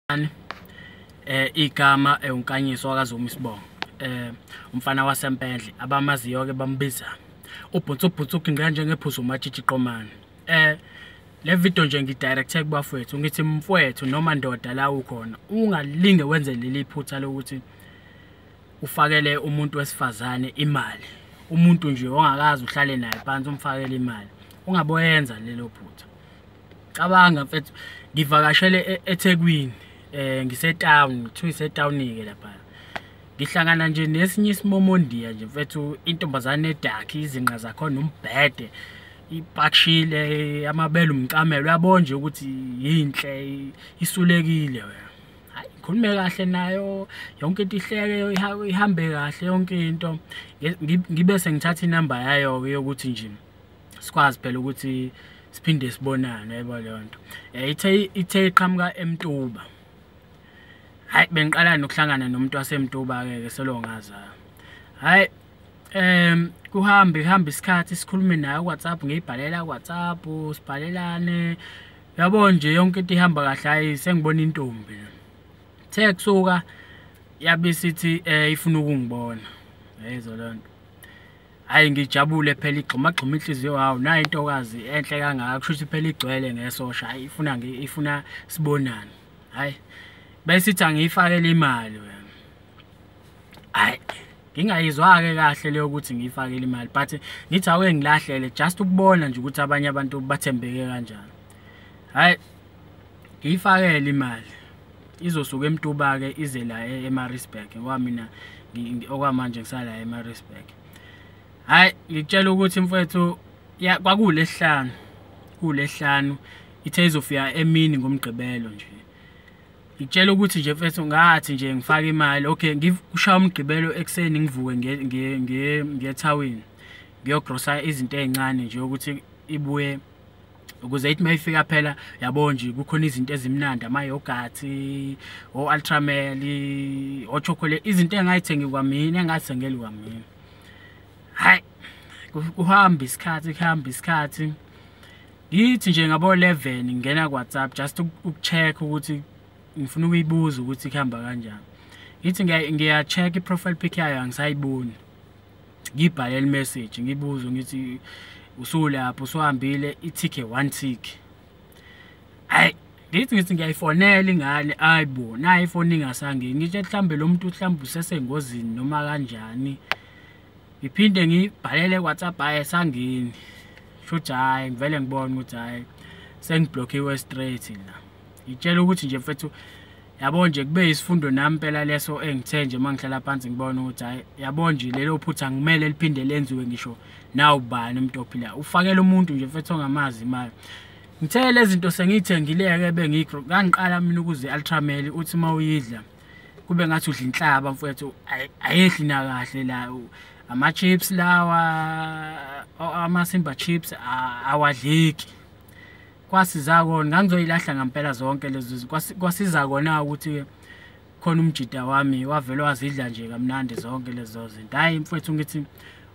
Mani eh igama eunkanyiso eh, wakaZuma isibongo eh umfana wasempendle abamaziyo ke bambiza ubhutsu ubhutsu ugingqa njengephuzu umatshitshi qomani eh le video nje ngidirecte kubafowethu ngithi mfowethu noma ndoda la ukhona ungalinge wenze leli phutha lokuthi ufakele umuntu wesifazane imali umuntu nje ongakazi uhlale naye phansi umfakele imali ungaboyenza lelo phutha cabanga mfethu ngivakashele e-, eThekwini eh ngisetown kuthiwa isetown ke lapha ngihlangana nje nesinye isimomondiya nje mfethu intombazane edakhi izinqa zakho nombhede ipakshile amabele umcamelo uyabona nje ukuthi yinhle isulekile wena hayi ngikhulume kahle nayo yonke into ihleke ihambe kahle yonke into ngibe sengithatha inamba yayo yokuthi nje sikwazi phela ukuthi siphinde sibonane yebo leyo nto eh, ithe ithe iqhamuka emtuba hayi bengiqala nokuhlangana nomuntu wasemtuba ke ke selongaza hayi em kuhamba ihamba isikhathi sikhulume naye WhatsApp ngiyibhalela WhatsApp sibhalelane yabo nje yonke into ihamba kahle hayi sengibona intombi the kusuka yabe sithi eh, ifuna ukungibona yayizolonto hayi ngijabule phela igxumagxuma inhliziyo hawu nayo intokazi enhle kangaka kusho ukuthi phela igcwele ngesosha hayi ifuna ifuna sibonane hayi besithi angiyifakele imali wena hayi ngingayizwa-ke kahle leyo ukuthi ngiyifakele imali but ngithi awuke ngilahlele just ukubona nje ukuthi abanye abantu bathembeke kanjani hhayi ngiyifakele imali izosuka emtuba-ke ize la e-, emarisburg ngoba mina okwamanje ngisala emarisburg hhayi ngikutshela ukuthi mfwethu kwakuwulesihlanu kuwulesihlanu ithe izofika emini ngomgqibelo nje ngitshela ukuthi nje mfethu ngathi nje ngifake imali okay ngikushaya umgqibelo ekuseni ngivuke ngethawini ngiyogrosa izinto ey'ncane nje ukuthi ibuye ukuze ithi mayifika phela yabo nje kukhona izinto ezimnandi ama yogurt o ultramel o chocolate izinto engayithengi kwamina engasengeli kwamina hayi kuhamba isikhathi kuhamba isikhathi ngithi nje ngabo 11 ngingena ku WhatsApp just ukucheck ukuthi ngifuna ukuyibuza ukuthi kuhamba kanjani ngithi ngiya check i profile pic yayo angisayiboni ngibhalele message ngibuzo ngithi usulapho usuhambile ithike one tick ay ngithi ngithi ngiyayifonela ingane ayibo nayo ifoni ingasange ngitshe mhlambe lo muntu mhlambe usesengozini noma kanjani ngiphinde ngibhalele WhatsApp aye sangini shothi hayi ngivele ngibone ukuthi hayi sengiblockiwe straight la ngitshela ukuthi nje mfethu yabo nje kube yisifundo nami impela leso engithe nje uma ngihlala phansi ngibona ukuthi hhayi yabo nje lelo phutha ngimele liphinde lenziwe ngisho nawubani umuntu ophilayo ufakela umuntu nje mfethu ongamazi imali ngithe lezi zinto sengiyithengileke bengigro kangiqala mina ukuze ultrameli uthi uma uyidla kube ngathi udla inhlaba mfethu ayehli nakahle la ama-chips lawa ama-simba chips awadleki kwasiza kona ngangizoyilahla ngampela zonke lezi kwasiza kona ukuthi khona umjida wami wavele wazidla nje kamnandi zonke lezo zinto hayi mfethu ngithi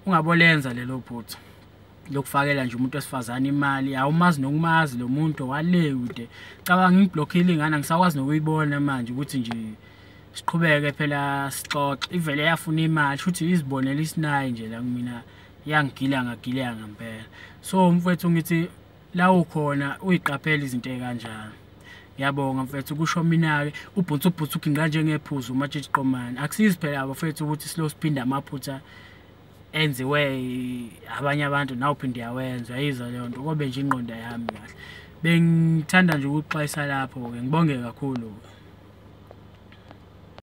ungabolenza lelo phutha lokufakela nje umuntu wesifazane imali awumazi nokumazi lo muntu wale kude cabanga ngiblokhile ingane ngisakwazi nokuyibona manje ukuthi nje siqhubeke phela sixoxe ivele yafuna imali futhi izibonela isinayi nje la kumina yangigila ngagileka ngempela so mfethu ngithi la ukhona uyiqaphela izinto ezikanjalo ngiyabonga mfethu kusho mina-ke ubhutha ubhutha uginqa njengephuzu umatshitshi qomane akusizi phela bafethu ukuthi silo siphinde amaphutha enziwe abanye abantu nawuphinde yawenza yiza leyo nto kobe nje ingqondo yami kahle bengithanda nje ukuxwayisa lapho-ke ngibonge kakhulu-ke